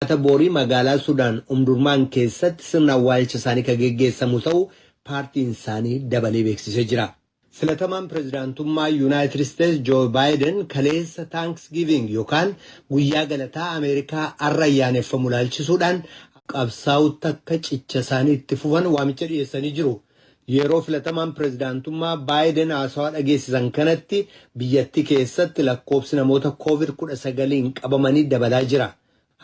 Jimaata boorii magaalaa Sudaan Umdurmaan keessatti sirna awwaalcha isaanii ka geggeessamu ta'u paartiin isaanii dabalee beeksisee jira. Filatamaan pirezidaantummaa Yunaayitid Isteets Joo Baayiden kaleessa Taanks Giiving yokaan guyyaa galataa Ameerikaa har'a ayyaaneffamu ilaalchisuudhaan qabsaa'utti akka cicha isaanii itti fufan waamicha dhiyeessanii jiru. Yeroo filatamaan pirezidaantummaa Baayiden haasawaa dhageessisan kanatti biyyattii keessatti lakkoofsi namoota Koovid 19n qabamanii dabalaa jira.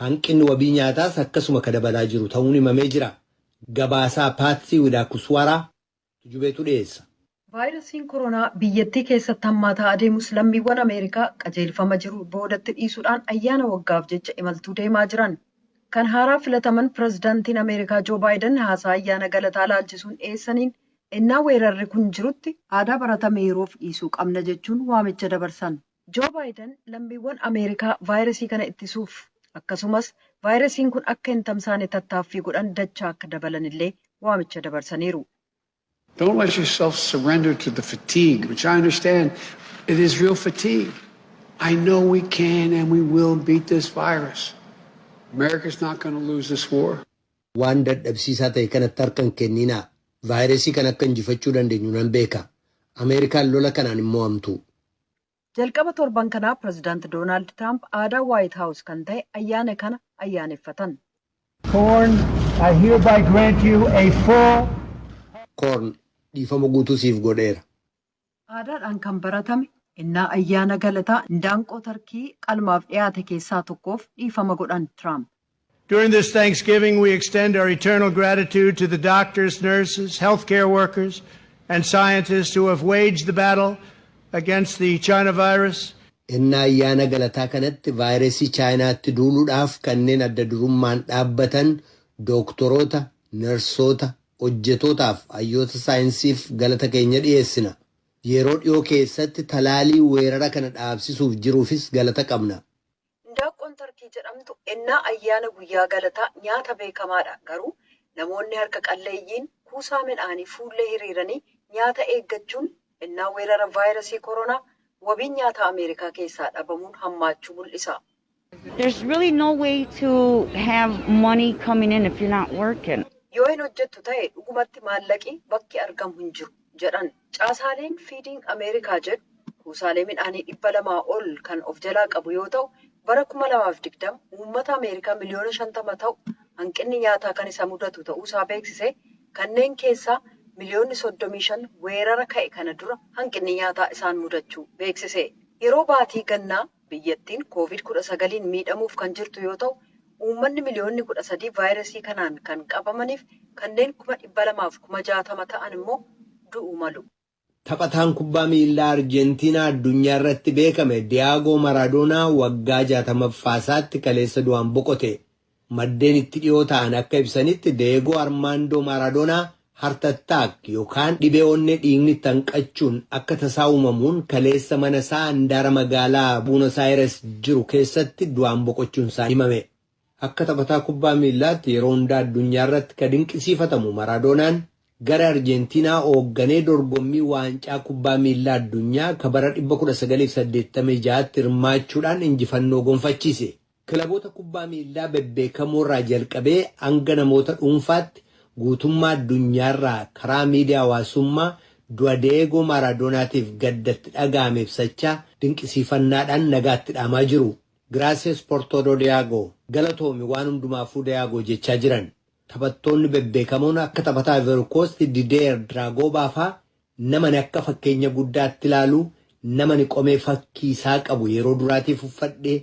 Hanqinni wabii nyaataas akkasuma ka dabalaa jiru ta'uun himamee jira. Gabaasaa Paatsii Widaakuswaaraa tujubeetu dhiyeessa. Vaayirasiin koronaa biyyattii keessatti hammaataa adeemus lammiiwwan Ameerikaa qajeelfama jiru boodatti dhiisuudhaan ayyaana waggaaf jecha imaltuu deemaa jiran. Kan haaraa filataman pirezidantiin Ameerikaa Joo Baayidan haasaa ayyaana galataa ilaalchisuun dhiyeessaniin ennaa weerarri kun jirutti aadaa baratame yeroof dhiisuu qabna jechuun waamicha dabarsan. Joo Baayidan lammiiwwan Ameerikaa vaayirasii kana ittisuuf akkasumas vaayirasiin kun akka hin tamsaane tattaaffii godhan dachaa akka dabalanillee waamicha dabarsaniiru. Don't let yourself surrender to the fatigue, which I understand it is real fatigue. I know we can and we will beat this virus. America's not going to lose this war. Waan dadhabsiisaa ta'e kanatti harka hin kenninaa. Vaayirasii kana akka injifachuu dandeenyu nan beeka. Ameerikaan lola kanaan hin mo'amtu. Jalqaba torban kanaa Pirezidaant Doonaald Tiraamp aadaa Waayit Haawus kan tahe ayyaana kana ayyaaneffatan. Corn, I hereby grant you a full. Corn, dhiifama guutuu siif godheera. Aadaadhaan kan baratame ennaa ayyaana galataa indaanqoo tarkii qalmaaf dhiyaate keessaa tokkoof dhiifama godhan Tiraamp. During this Thanksgiving we extend our eternal gratitude to the doctors, nurses, health care workers and scientists who have waged the battle against the China virus. Ennaa ayyaana galataa kanatti vaayirasii Chaayinaatti duuludhaaf kanneen adda durummaan dhaabbatan dooktoroota, narsoota, hojjetootaaf hayyoota saayinsiif galata keenya dhiyeessina. Yeroo dhiyoo keessatti talaalii weerara kana dhaabsisuuf jiruufis galata qabna. Indaaqqoon Tarkii jedhamtu ennaa ayyaana guyyaa galataa nyaata beekamaadha. Garuu namoonni harka qalleeyyiin kuusaa midhaanii fuullee hiriiranii nyaata eeggachuun ennaa weerara vaayirasii koronaa wabiin nyaataa Ameerikaa keessaa dhabamuun hammaachuu mul'isa. There's really no way to have money coming in if you're not working. Yoo hin hojjettu ta'e dhugumatti maallaqi bakki argamu hin jiru, jedhan. Caasaaleen Feeding America jedhu kuusaalee midhaanii 200 ol kan of jalaa qabu yoo ta'u, bara 2020 uummata Ameerikaa miliyoona 50 ta'u hanqinni nyaataa kan isa mudatu ta'uu isaa beeksisee, kanneen keessaa miliyoonni 35 weerara ka'e kana dura hanqinni nyaataa isaan mudachuu beeksise. Yeroo baatii gannaa Biyyattiin Kooviid 19n miidhamuuf kan jirtu yoo ta'u, uummanni miliyoonni 13 vaayirasii kanaan kan qabamaniif kanneen kuma 200 fi kuma 60 ta'an immoo du'uu malu. Taphataan kubbaa miillaa Arjentiinaa addunyaa irratti beekame Diyaagoo Maraadoonaa waggaa 60ffaasaatti kaleessa du'aan boqote. Maddeen itti dhiyoo ta'an akka ibsanitti Deegoo Armaandoo Maaradoonaa Heart Attack yookaan dhibee onnee dhiigni itti hanqachuun akka tasaa uumamuun kaleessa mana isaa handaara magaalaa Buunos Aayires jiru keessatti du'aan boqochuun isaa himame. Akka taphataa kubbaa miillaatti yeroo hundaa addunyaa irratti ka dinqisiifatamu Maraadoonaan gara Arjeentiinaa oogganee dorgommii waancaa kubbaa miillaa addunyaa ka bara 1986tti hirmaachuudhaan injifannoo gonfachiise. Kilaboota kubbaa miillaa bebbeekamoorraa jalqabee hanga namoota dhuunfaatti guutummaa addunyaarraa karaa miidiyaa hawaasummaa du'a Deyeegoo Maaraadoonaatiif gadda itti dhaga'ame ibsachaa dinqisiifannaadhaan nagaa itti dhaamaa jiru. Gracias por todo Deyago, Galatoomi waan hundumaafuu Deyago jechaa jiran. Taphattoonni bebbeekamoon akka taphataa Ivory Coast Dideer Dragoobaa faa Namani akka fakkeenya guddaatti ilaalu namani qomee fakkii isaa qabu yeroo duraatiif uffadhe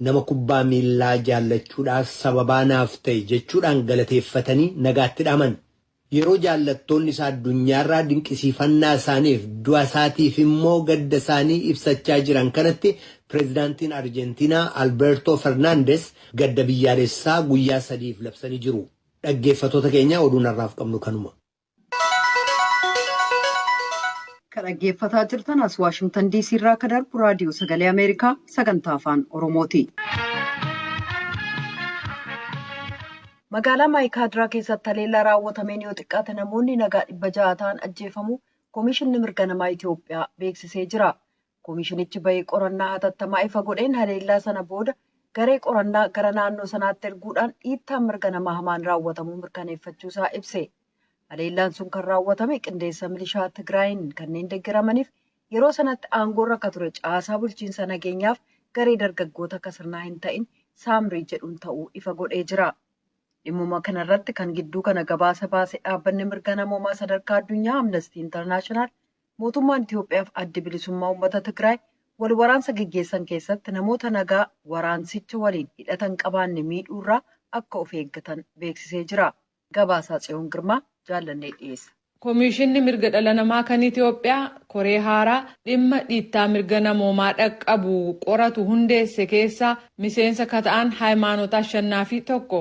nama kubbaa miillaa jaallachuudhaaf sababaa naaf ta'e jechuudhaan galateeffatanii nagaatti dhaaman. Yeroo jaallattoonni isaa addunyaarraa dinqisiifannaa isaaniif du'a isaatiif immoo gadda isaanii ibsachaa jiran kanatti Pireezidaantiin Arjentiinaa Albeertoo Fernaandes gadda biyyaalessaa guyyaa sadiif labsanii jiru. Dhaggeeffatoota keenya oduun har'aaf qabnu kanuma. Kan dhaggeeffataa jirtan as Waashingtan DC irraa akka darbu raadiyoo sagalee Ameerikaa sagantaa afaan Oromooti. Magaalaa Maayikaadiraa keessatti haleellaa raawwatameen yoo xiqqaate namoonni nagaa dhibba ja'a ta'an ajjeefamuu Komishinni Mirga Namaa Itoophiyaa beeksisee jira. Komishinichi bahii qorannaa hatattamaa ifa godheen haleellaa sana booda garee qorannaa gara naannoo sanaatti erguudhaan dhiittaan mirga namaa hamaan raawwatamuu mirkaneeffachuu isaa ibse. Haleellaan sun kan raawwatame qindeessa milishaa Tigraayiin kanneen deggeramaniif yeroo sanatti aangoorra akka ture caasaa bulchiinsa nageenyaaf garee dargaggoota akka sirnaa hin ta'in Saamrii jedhuun ta'uu ifa godhee jira. Dhimmuma kanarratti kan gidduu kana gabaasa baase dhaabbanni mirga namoomaa sadarkaa addunyaa Amnestii Intarnaashinaal Mootummaan Itiyoophiyaaf Addi Bilisummaa Uummata Tigraay wal waraansa geggeessan keessatti namoota nagaa waraansicha waliin hidhata hin qabaanne miidhuurraa akka of eeggatan beeksisee jira. Gabaasaa Tsiyoon Girmaa Jaallannee dhiyeessa. Komiishinni Mirga Dhala Namaa kan Itiyoophiyaa koree haaraa dhimma dhiittaa mirga namoomaa dhaqqabu qoratu hundeesse keessaa miseensa ka ta'an Hayimaanot Ashannaafii tokko.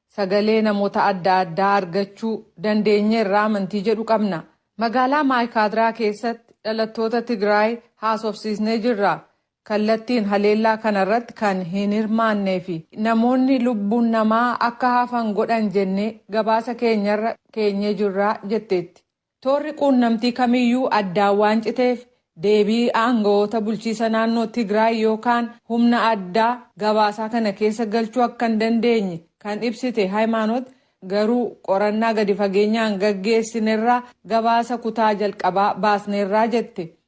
Sagalee namoota adda addaa argachuu dandeenyeerra amantii jedhu qabna. Magaalaa Maaykaadraa keessatti dhalattoota Tigraay haasofsiisnee jirra. Kallattiin haleellaa kanarratti kan hin hirmaannee fi namoonni lubbuun namaa akka hafan godhan jennee gabaasa keenyarra keenyee jirra jetteetti. Toorri quunnamtii kamiyyuu addaan waan citeef deebii aangawoota bulchiisa naannoo Tigraay yookaan humna addaa gabaasaa kana keessa galchuu akka hin dandeenye kan ibsite Hayimaanot, garuu qorannaa gadi fageenyaan gaggeessinerraa gabaasa kutaa jalqabaa baasneerra jette.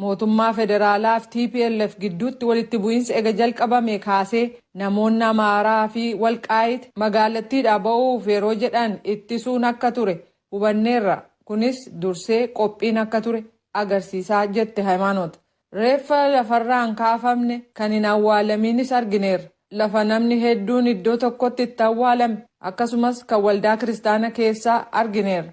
Mootummaa Federaalaa fi tplf gidduutti walitti bu'iinsi ega jalqabamee kaasee namoonni Amaaraa fi Walqaayit magaalattiidhaa ba'uuf yeroo jedhan ittisuun akka ture hubanneerra, kunis dursee qophiin akka ture agarsiisa jette Hayimaanot. Reeffa lafarraa hin kaafamne, kan hin awwaalamiinis argineerra. Lafa namni hedduun iddoo tokkotti itti awwaalame, akkasumas kan waldaa kiristaana keessaa argineerra.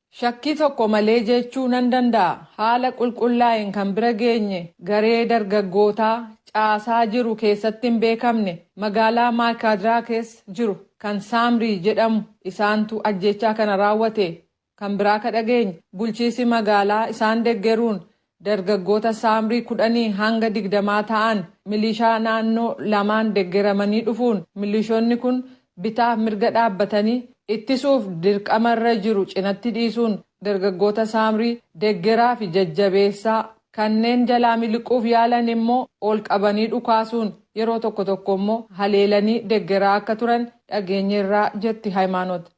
Shakkii tokko malee jechuu nan danda'a, haala qulqullaa'een kan bira geenye garee dargaggootaa caasaa jiru keessatti hin beekamne magaalaa Maaykaadraa keessa jiru kan Saamrii jedhamu isaantu ajjeechaa kana raawwate. Kan biraa ka dhageenye bulchiisi magaalaa isaan deggeruun Dargaggoota Saamrii kudhanii hanga digdamaa ta'an milishaa naannoo lamaan deggeramanii dhufuun milishonni kun bitaaf mirga dhaabbatanii ittisuuf dirqama irra jiru cinatti dhiisuun dargaggoota Saamrii deggeraa fi jajjabeessaa kanneen jalaa miliquuf yaalan immoo ol qabanii dhukaasuun yeroo tokko tokko immoo haleelanii deggeraa akka turan dhageenyeerraa jetti Hayimaanot.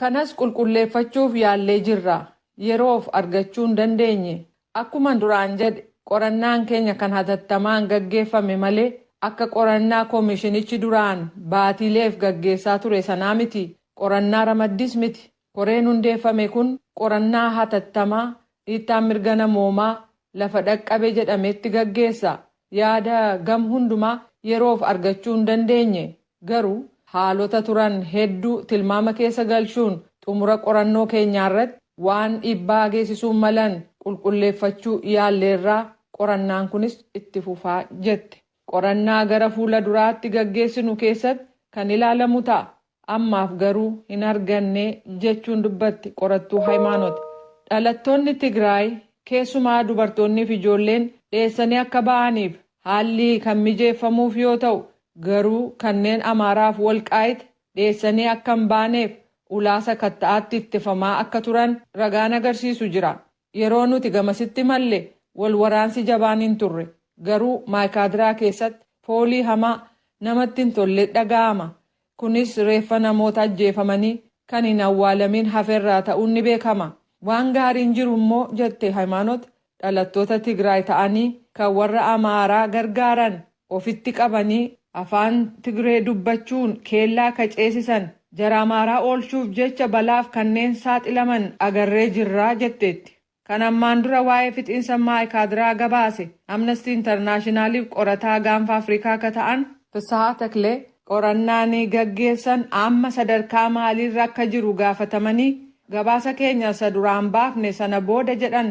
Kanas qulqulleeffachuuf yaallee jirra. Yeroof argachuu hin dandeenye. Akkuman duraan jedhe qorannaan keenya kan hatattamaan gaggeeffame malee akka qorannaa komishinichi duraan baatiileef gaggeessaa ture sanaa miti. Qorannaa ramaddiis miti. Koreen hundeeffame kun qorannaa hatattamaa Dhiittaan mirga namoomaa lafa dhaqqabe jedhametti gaggeessa. Yaada gam hundumaa yeroof argachuu hin dandeenye. Garuu haalota turan hedduu tilmaama keessa galchuun xumura qorannoo keenyaarratti waan dhiibbaa geessisuu malan qulqulleeffachuu yaalleerra, qorannaan kunis itti fufa, jette. Qorannaa gara fuula duraatti gaggeessinu keessatti kan ilaalamu ta'a. Ammaaf garuu hin arganne, jechuun dubbatti qorattuu Hayimaanot. Dhalattoonni Tigraay keessumaa dubartoonniif ijoolleen dheessanii akka ba'aniif haalli kan mijeeffamuuf yoo ta'u, garuu kanneen Amaaraaf Walqaayit dheessanii akka hin baaneef ulaa sakatta'aatti ittifamaa akka turan ragaan agarsiisu jira. Yeroo nuti gamasitti imalle wal waraansi jabaan hin turre. Garuu Maaykaadiraa keessatti foolii hamaa, namatti hin tolle dhaga'ama. Kunis reeffa namoota ajjeefamanii kan hin awwaalamiin hafe irraa ta'uun ni beekama. Waan gaariin jiru immoo, jette Hayimaanot, dhalattoota Tigraay ta'anii kan warra Amaaraa gargaaran ofitti qabanii afaan Tigree dubbachuun keellaa ka ceesisan jara Amaaraa oolchuuf jecha balaaf kanneen saaxilaman agarree jirra jetteetti. Kan ammaan dura waa'ee fixiinsa Maaykaadraa gabaase Amnesty Internationaliif qorataa Gaanfa Afrikaa ka ta'an Fissahaa Taklee qorannaan gaggeessan amma sadarkaa maaliirra akka jiru gaafatamanii, gabaasa keenya isa duraan baafne sana booda jedhan.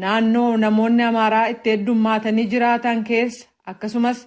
Naannoo namoonni Amaaraa itti heddummaatanii jiraatan keessa akkasumas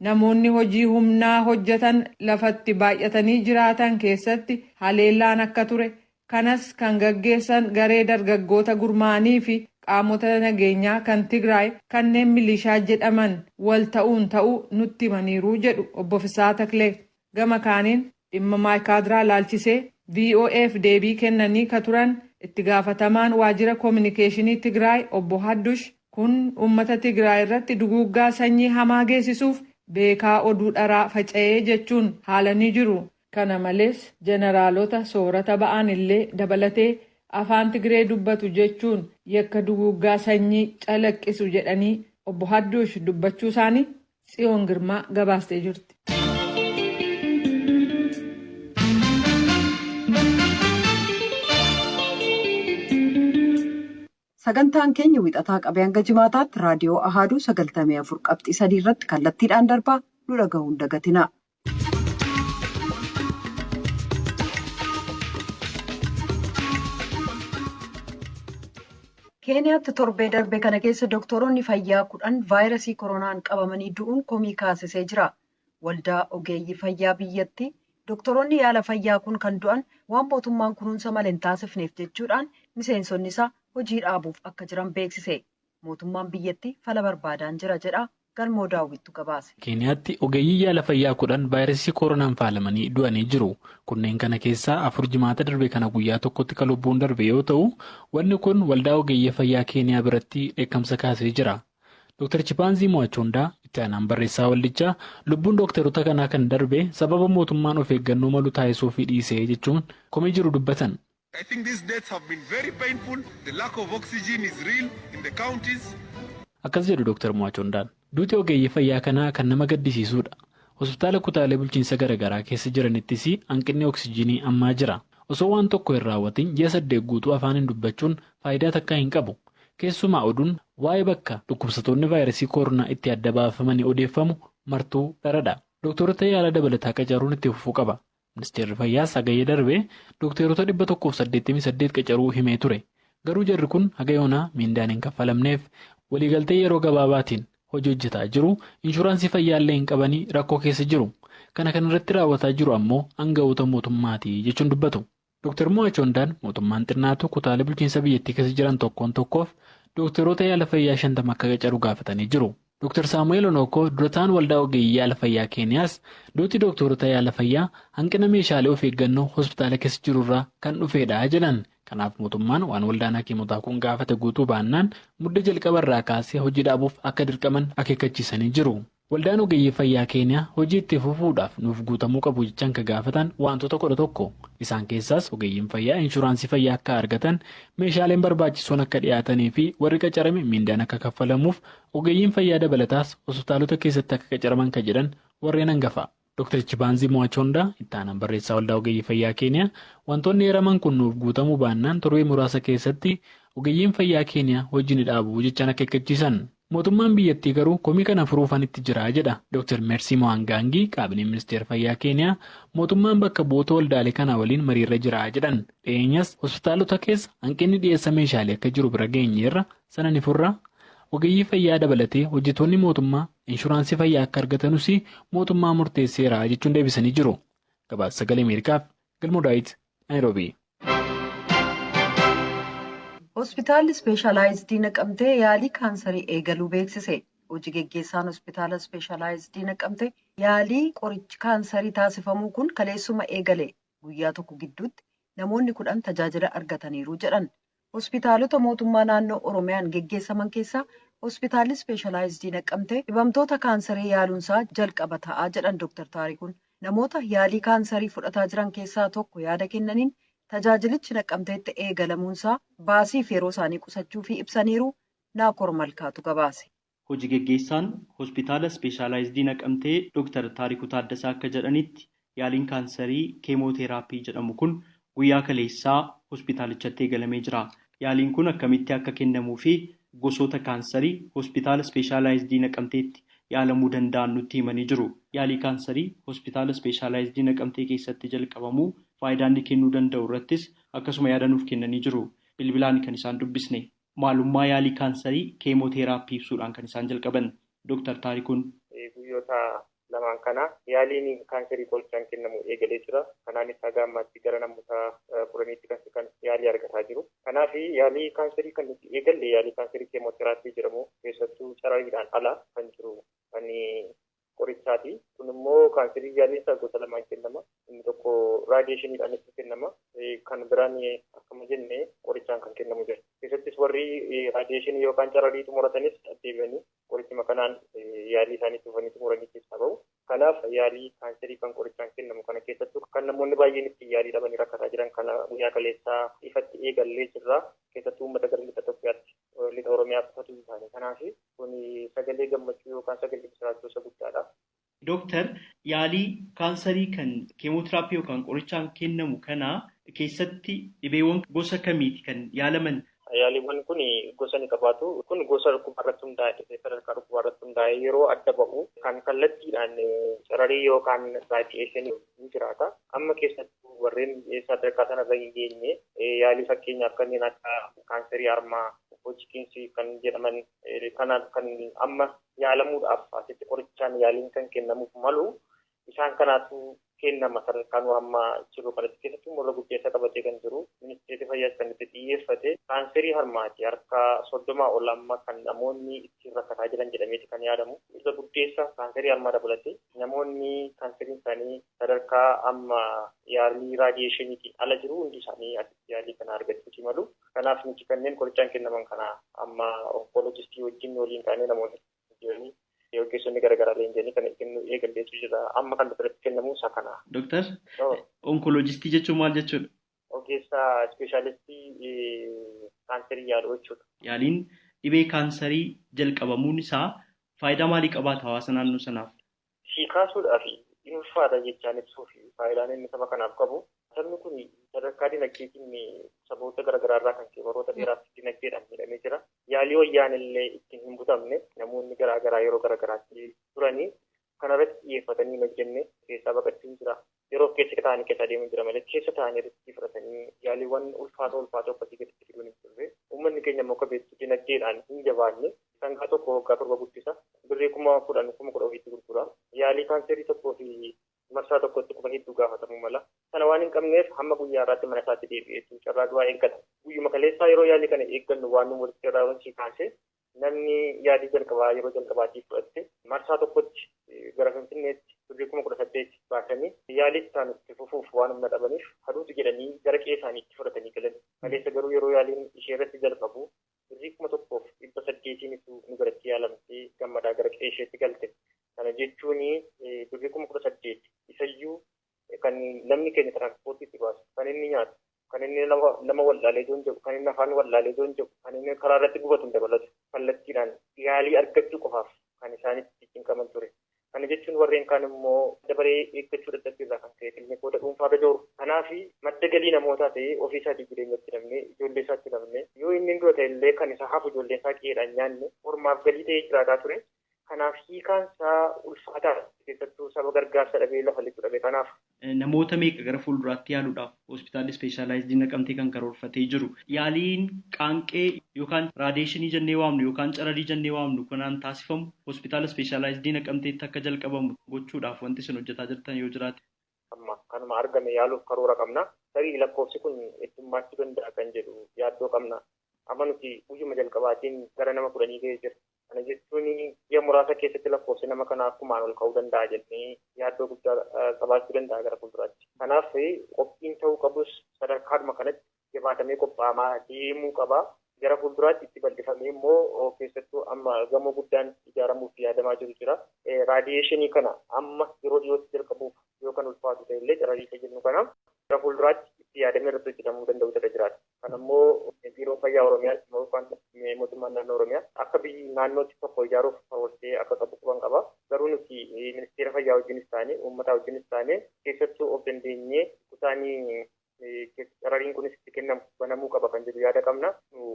namoonni hojii humnaa hojjetan lafa itti baay'atanii jiraatan keessatti haleellaan akka ture, kanas kan gaggeessan garee dargaggoota gurmaa'anii fi qaamota nageenyaa kan Tigraay kanneen milishaa jedhaman wal ta'uun ta'uu nutti himaniiru jedhu Obbo Fissahaa Taklee. Gama kaaniin Dhimma Maaykaadraa ilaalchisee VOAf deebii kennanii ka turan itti gaafatamaan waajjira kominikeeshinii Tigraay obbo Haddush kun uummata Tigraay irratti duguuggaa sanyii hamaa geessisuuf beekaa oduu dharaa faca'ee jechuun haalanii jiru. Kana malees jeneraalota soorata ba'an illee dabalatee afaan Tigree dubbatu jechuun yakka duguuggaa sanyii calaqqisu jedhanii obbo Haddush dubbachuu isaanii Tsiyoon Girmaa gabaastee jirti. Sagantaan keenya wixataa qabee hanga jimaataatti raadiyoo Ahaaduu 94 qabxii 3 irratti kallattiidhaan darbaa nu dhagahuun dagatina. keeniyaatti torbee darbe kana keessa doktoroonni fayyaa kudhan vaayirasii koronaan qabamanii du'uun komii kaasisee jira waldaa ogeeyyii fayyaa biyyattii doktoroonni yaala fayyaa kun kan du'an waan mootummaan kunuunsa malee hin taasifneef jechuudhaan miseensonni isaa hojii dhaabuuf akka jiran beeksise mootummaan biyyattii fala barbaadaan jira jedha Galmoo Daawwittu gabaase. Keeniyaatti ogeeyyii yaala fayyaa 10 vaayirasii kooronaan faalamanii du'anii jiru. Kunneen kana keessaa afur jimaata darbe kana guyyaa tokkotti ka lubbuun darbe yoo ta'u, wanni kun waldaa ogeeyyii fayyaa Keeniyaa biratti dheekkamsa kaasee jira. Dr. Chipaanzii Mo'achoondaa, itti aanaan barreessaa waldichaa, lubbuun dookterota kanaa kan darbe sababa mootummaan of eeggannoo malu taasisuufii dhiisee jechuun komii jiru dubbatan. I think these deaths have been very painful, the lack of oxygen is real in the counties. Akkas jedhu Dr. Mwachondaan. Duuti ogeeyyii fayyaa kanaa kan nama gaddisiisuudha. Hospitaala kutaalee bulchiinsa garagaraa keessa jiranittis hanqinni oksijiinii ammaa jira. Osoo waan tokko hin raawwatiin ji'a saddeet guutuu afaaniin dubbachuun faayidaa takkaa hin qabu. Keessumaa oduun waa'ee bakka dhukkubsatoonni vaayirasii koronaa itti adda baafamanii odeeffamu martuu dharadha. Doktoorota yaala dabalataa qacaruun itti fufuu qaba. Ministeerri Fayyaas Hagayya darbe dokteerota 188 qacaruu himee ture. Garuu jarri kun haga yoonaa miindaan hin kaffalamneef. Waliigaltee yeroo gabaabaatiin hojii hojjetaa jiru. Inshuraansii fayyaallee hin qabanii rakkoo keessa jiru. Kana kan irratti raawwataa jiru ammoo aanga'oota mootummaati jechuun dubbatu. Doktar Mo'achoondaan mootummaan xinnaatu kutaalee bulchiinsa biyyattii keessa jiran tokkoon tokkoof dokteerota yaala fayyaa 50 akka qacaru gaafatanii jiru. Dr. Saamu'eel Onookoo dura ta'aan waldaa ogeeyyii yaala fayyaa Keeniyaas duuti dooktoorota yaala fayyaa hanqina meeshaalee of eeggannoo hospitaala keessa jirurraa kan dhufeedha jedhan. Kanaaf mootummaan waan waldaan hakiimotaa kun gaafate guutuu baannaan Mudde jalqaba irraa kaasee hojii dhaabuuf akka dirqaman akeekkachiisanii jiru. Waldaan ogeeyyii fayyaa Keeniyaa hojii itti fufuudhaaf nuuf guutamuu qabu jechaan ka gaafatan waantota 11 isaan keessaas ogeeyyiin fayyaa inshuraansii fayyaa akka argatan, meeshaaleen barbaachisoon akka dhiyaatanii fi warri qacarame miindaan akka kaffalamuuf Ogeeyyiin fayyaa dabalataas hospitaalota keessatti akka qacaraman ka jedhan warreen hangafaa. Dr Chibaanzii Muwachoondaa, itti aanaan barreessaa Waldaa Ogeeyyii Fayyaa Keeniyaa, wantoonni eeraman kun nuuf guutamuu baannaan torbee muraasa keessatti ogeeyyiin fayyaa Keeniyaa hojii ni dhaabu jechaan akeekkachiisan. Mootummaan biyyattii garuu komii kana furuufan itti jira jedha Dr Meersii Mowaangaangii, Kaabineen Ministeera Fayyaa Keeniyaa mootummaan bakka bu'oota waldaalee kanaa waliin mariirra jira jedhan. Dhiyeenyas hospitaalota keessa hanqinni dhiyeessa meeshaalee akka jiru bira geenyeerra sana ni furra, ogeeyyii fayyaa dabalatee hojjetoonni mootummaa inshuraansii fayyaa akka argatanus mootummaa murteesseera jechuun deebisanii jiru. Gabaasa sagalee Ameerikaaf Galmoo Daawit Naayiroobii. Hospitaalli Ispeeshaalaayizdii Naqamtee yaalii kaansarii eegaluu beeksise. Hojii geggeessaan Hospitaala Ispeeshaalaayizdii Naqamtee yaalii qorichi kaansarii taasifamuu kun kaleessuma eegale guyyaa tokko gidduutti namoonni kudhan tajaajila argataniiru jedhan. Hospitaalota mootummaa naannoo Oromiyaan geggeessaman keessaa Hospitaalli Ispeeshalaayizdii Naqqamtee dhibamtoota kaansarii yaaluunsaa jalqaba ta'a jedhan Doktar Taarikuun. Namoota yaalii kaansarii fudhataa jiran keessaa tokko yaada kennaniin, tajaajilichi Naqqamteetti eegalamuunsaa baasiif yeroo isaanii qusachuufii ibsaniiru. Naakoor Malkaatu gabaase. Hoji geggeessaan Hospitaala Ispeeshaalaayizdii Naqamtee Doktar Taarikuu Taaddasaa akka jedhanitti, yaaliin kaansarii keemooteeraappii jedhamu kun guyyaa kaleessaa hospitaalichatti eegalamee jira. Yaaliin kun akkamitti akka kennamuu fi gosoota kaansarii Hospitaala Ispeeshaalaayizdii Naqamteetti yaalamuu danda'an nutti himanii jiru. Yaalii kaansarii Hospitaala Ispeeshaalaayizdii Naqamtee keessatti jalqabamu, faayidaa inni kennuu danda'u irrattis akkasuma yaada nuuf kennanii jiru. Bilbilaan kan isaan dubbisne. Maalummaa yaalii kaansarii keemooteeraappii ibsuudhaan kan isaan jalqaban Doktar Taarikuun. Guyyoota lamaan kana yaaliin kaansarii qorichaan kennamu eegalee jira. Kanaanis haga ammaatti gara namoota kudhaniitti kan siqan yaalii argataa jiru. Kanaaf yaalii kaansarii kan nuti eegalle yaalii kaansarii keemooteeraappii jedhamu keessattuu carariidhaan ala kan jiru kan qorichaati. Kun immoo kaanserii jaalleessaa gosa lamaan kennama. Inni tokko raadiyeeshiniidhaan itti kennama. Kan biraan akkuma jenne qorichaan kan kennamu jira. Keessattis warri raadiyeeshinii yookaan cararii xumuratanis deebi'anii qorichuma kanaan yaalii isaanii dhufanii xumuranii keessaa bahu. Kanaaf yaalii kaanserii kan qorichaan kennamu kana keessattuu kan namoonni baay'een ittiin yaalii dhabanii rakkataa jiran kana guyyaa kaleessaa ifatti eegallee jirra. Keessattuu uummata gara lixa Itoophiyaatti. lixa Oromiyaa qofatu hin taane. Kanaaf kun sagalee gammachuu yookaan sagalee misiraachoo isa guddaadha. Dooktar yaalii kaansarii kan keemootiraappii yookaan qorichaan kennamu kana keessatti dhibeewwan gosa kamiiti kan yaalaman? Yaaliiwwan kun gosa ni qabaatu. Kun gosa dhukkubaa irratti hundaa'e dhibee sadarkaa dhukkubaa irratti hundaa'e yeroo adda ba'u kan kallattiidhaan cararii yookaan raadiyeeshinii ni jiraata. Amma keessattuu warreen sadarkaa sanarra hin geenye yaalii fakkeenyaaf kanneen akka kaanserii harmaa, hojikiinsii kan jedhaman kana kan amma yaalamuudhaaf asitti qorichaan yaaliin kan kennamuuf malu isaan kanaatu kennama sadarkaa nu amma jiru kanatti keessattuu morra guddeessa qabatee kan jiru ministeerri fayyaas kan itti xiyyeeffate kaanserii harmaati harka soddomaa ol amma kan namoonni ittiin rakkataa jiran jedhameeti kan yaadamu isa guddeessa kaanserii harmaa dabalatee Namoonni kaanseriin isaanii sadarkaa amma yaalii raadiyeeshiniitiin ala jiru hundi isaanii asitti yaalii kana argachuutii malu. Kanaaf nuti kanneen qorichaan kennaman kana amma onkoloojistii wajjin waliin taanee namoota jiranii ogeessonni garaagaraa leenji'anii kana kennuu eegalleetu jira. Amma kan asirratti kennamu isa kana. Doktar, onkoloojistii jechuun maal jechuudha? Ogeessa ispeeshaalistii kaansarii yaalu jechuudha. Yaaliin dhibee kaansarii jalqabamuun isaa faayidaa maalii qabaata hawaasa naannoo sanaaf? Sii kaasuudhaaf hin ulfaata jechaan ibsuuf faayidaan inni saba kanaaf qabu sabni kun sadarkaa dinagdeetiin saboota garaagaraa irraa kan ka'e baroota dheeraaf dinagdeedhaan miidhamee jira. Yaalii wayyaan illee ittiin hin butamne namoonni garaagaraa yeroo garaagaraatti turanii Kana irratti xiyyeeffatanii hin hojjenne keessaa baqachuun jira. Yeroof keessa taa'anii keessa adeemuun jira malee keessa taa'anii riskii fudhatanii yaaliiwwan ulfaatoo ulfaatoo akkasii gaditti fiduun hin turre. Uummanni keenya immoo akka beektu dinagdeedhaan hin jabaanne. Sangaa tokko waggaa torba guddisa. Birrii kuma kudhan kuma kudha ofiitti gurgura. Yaalii kaanseerii tokkoo fi marsaa tokkotti kuma hedduu gaafatamuu mala. Sana waan hin qabneef hamma guyyaa har'aatti mana isaatti deebi'eetu carraa du'aa eeggata. Guyyuma kaleessaa yeroo yaalii kana eeggannu waan nu mudate irraa yoon sii kaase Namni yaalii jalqabaa yeroo jalqabaatiif fudhatte marsaa tokkotti gara Finfinneetti birrii kuma kudha saddeet baasanii yaalii itti aanu itti fufuuf waan humna dhabaniif haduutu jedhanii gara qe'ee isaaniitti fudhatanii galan. Kaleessa garuu yeroo yaaliin isheerratti jalqabu birrii kuma tokkoof dhibba saddeetiinitu nu biratti yaalamtee gammadaa gara qe'eesheetti galte. Kana jechuun birrii kuma kudha saddeet isayyuu kan namni keenya tiraansipoortii itti baasu, kan inni nyaatu, kan inni nama nama wallaalee joon jedhu, kan inni afaan wallaalee joon jedhu, kan inni karaa irratti gubatu hin dabalatu. Kallattiidhaan yaalii argachuu qofaaf kan isaan itti cinqaman ture. Kana jechuun warreen kaan immoo dabaree eeggachuu dadhabbii irraa kan ka'e kilnikoota dhuunfaa irra jooru. Kanaaf madda galii namootaa ta'ee ofii isaatii jireenya itti dhabne, ijoollee isaa itti dhabne, yoo inni hin du'a ta'e illee kan isaa hafu ijoolleen isaa qe'eedhaan nyaanne ormaaf galii ta'ee jiraataa ture. Kanaaf hiikaan isaa ulfaataadha. Keessattuu saba gargaarsa dhabee lafa lixu dhabe kanaaf. Namoota meeqa gara fuulduraatti yaaluudhaaf Hospitaalli Ispeeshaalaayizdii Naqamtee kan karoorfatee jiru? Yaaliin qaanqee yookaan raadeeshinii jennee waamnu yookaan cararii jennee waamnu kanaan taasifamu Hospitaala Ispeeshaalaayizdii Naqamteetti akka jalqabamu gochuudhaaf wanti isin hojjetaa jirtan yoo jiraate? Amma kanuma argame yaaluuf karoora qabna. Tarii lakkoofsi kun heddummaachuu danda'a kan jedhu yaaddoo qabna. Amma nuti guyyuma jalqabaatiin gara nama kudhanii ga'ee jira. Kana jechuun ji'a muraasa keessatti lakkoofsi nama kanaa kumaan ol ka'uu danda'a jennee yaaddoo guddaa qabaachuu danda'a gara fuulduraatti. Kanaaf qophiin ta'uu qabus sadarkaadhuma kanatti jabaatamee qopha'amaa deemuu qaba. Gara fuulduraatti itti bal'ifamee immoo keessattuu amma gamoo guddaan ijaaramuuf yaadamaa jiru jira. Raadiyeeshinii kana amma yeroo dhiyootti jalqabuuf yoo kan ulfaatu ta'e illee cararii isa jennu kana gara fuulduraatti itti yaadamee irratti hojjetamuu danda'utu irra jiraata. Kana immoo Biiroon Fayyaa Oromiyaatti yookaan mootummaan naannoo Oromiyaa akka biyyi naannootti tokko ijaaruuf karoorfatee akka qabu quban qaba. Garuu nuti ministeera fayyaa wajjinis taane uummataa wajjinis taane keessattuu of dandeenyee kutaanii carariin kunis itti kennamu banamuu qaba kan jedhu yaada qabna.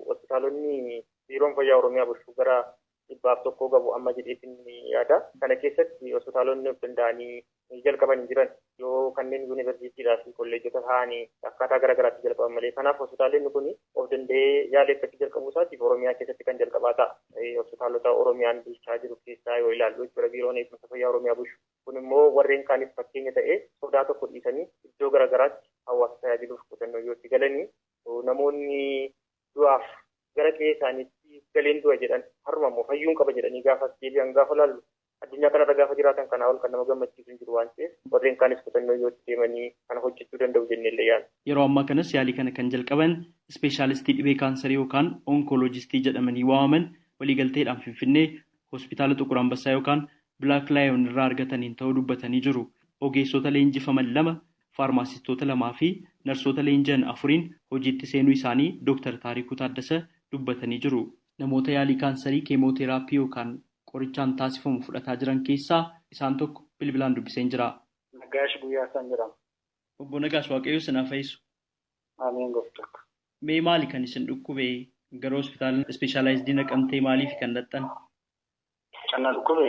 Hospitaalonni biiroon fayyaa Oromiyaa bulchu gara dhibbaaf tokkoo gabu amma jedheetiin yaada. Kana keessatti hospitaalonni of danda'anii jalqaban hin jiran yoo kanneen yuunivarsiitiidhaa fi kolleejjota ta'anii akkaataa gara garaatti jalqaban malee. Kanaaf hospitaalonni kun of danda'ee yaala eeggachuu jalqabuu isaatiif Oromiyaa keessatti kan jalqabaa ta'a. Hospitaalota Oromiyaan bulchaa jiru keessaa yoo ilaallu jechuudha biiroon eegumsa fayyaa Oromiyaa bulchu. Kun immoo warreen kaaniif fakkeenya ta'ee sodaa tokko dhiisanii iddoo gara garaatti hawaasa tajaajiluuf kutannoo yoo itti galanii namoonni du'aaf gara qe'ee isaaniitti galeen du'a jedhan har'uma immoo fayyuun qaba jedhanii gaafa as deebi'an gaafa laallu addunyaa kanarra gaafa jiraatan kanaa ol kan nama gammachiisu hin jiru waan ta'eef warreen kaanis kutannoo yoo itti deemanii kana hojjechuu danda'u jennee illee yaadna. Yeroo ammaa kanas yaalii kana kan jalqaban ispeeshaalistii dhibee kaansarii yookaan onkoloojistii jedhamanii waamaman waliigalteedhaan Finfinnee Hospitaala Xuqur Anbassaa yookaan Black Lion irraa argataniin ta'uu dubbatanii jiru. Ogeessota leenjifaman lama, faarmaasistoota lamaa fi narsoota leenji'an afuriin hojiitti seenuu isaanii Dooktar Taarikuu Taaddasa dubbatanii jiru. Namoota yaalii kaansarii keemooteeraappii yookaan qorichaan taasifamu fudhataa jiran keessaa isaan tokko bilbilaan dubbiseen jira. Nagaash Guyyaasaan jedhama. Obbo Nagaash Waaqayyoo isin haa fayisu. Ameen gooftakko. Mee maali kan isin dhukkube gara hospitaala ispeeshaalaayizdii naqamtee maaliifi kan dhaqxan? Kan na dhukkube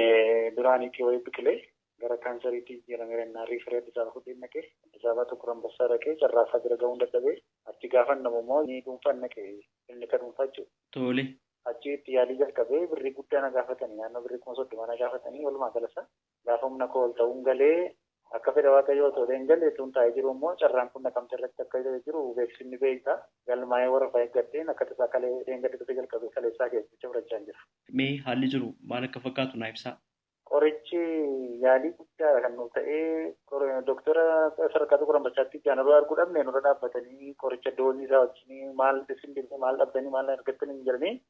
duraan itii wayii biqilee gara kaansariitti jijjiirameera innaan riifarii Addis Ababa fudheen dhaqe. Addis Ababa Xuqur Anbassaa dhaqee carraasaa bira gahuun dadhabee achi gaafan dhabu immoo ni dhuunfaan dhaqe kilinika dhuunfaa jechuudha. Tole. Achi itti yaalii jalqabee birrii guddaa na gaafatanii naannoo birrii kuma soddoma na gaafatanii walumaa galasaa Gaafa humna koo ol ta'uun galee akka fedha Waaqayyoo osoo ta'een gale utuun taa'ee jiruu immoo carraan kun Naqamtee irratti akka jiru beeksifni beekta. Galmaa'ee warrafa eeggadheen akka tasaa kalee dheengadda dhufe jalqabee kaleessaa keessa jecha fudhachaan jira. Mee haalli jiru maal akka fakkaatu naa ibsaa. Qorichi yaalii guddaadha kan nuuf ta'ee doktora sadarkaa Xuqur Ambassaatti ijaan yeroo arguu dhabne nurra dhaabbatanii qoricha doozii isaa wajjin maal isin dhibee maal dhabdanii maal argattanii hin jedhanii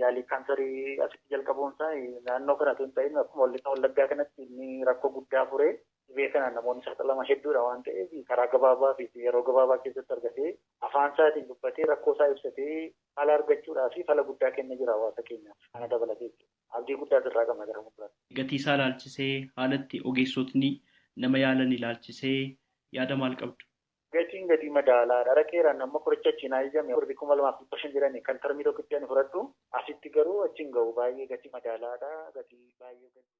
Yaalii kaansarii asitti jalqabuun isaa naannoo kana osoo hin ta'in akkuma wallisa wallaggaa kanatti inni rakkoo guddaa furee dhibee kanaan namoonni saaxilaman hedduudha waan ta'eef karaa gabaabaa fi yeroo gabaabaa keessatti argatee afaan isaatiin dubbatee rakkoo isaa ibsatee fala argachuudhaa fi fala guddaa kenna jira hawaasa keenyaaf kana dabalatee abdii guddaa asirraa qabna gara fuulduraatti. Gatii isaa ilaalchisee haala itti ogeessotni nama yaalan ilaalchisee yaada maal qabdu? Gatiin gadii madaalaa dha. Dhaqeera ani amma qorichi achii naa eeyyame birrii 2500 jedhani kan termii tokkitti ani fudhadhu. Asitti garuu achi hin gahu baay'ee gatii madaalaa dha. Gatii baay'ee gadi.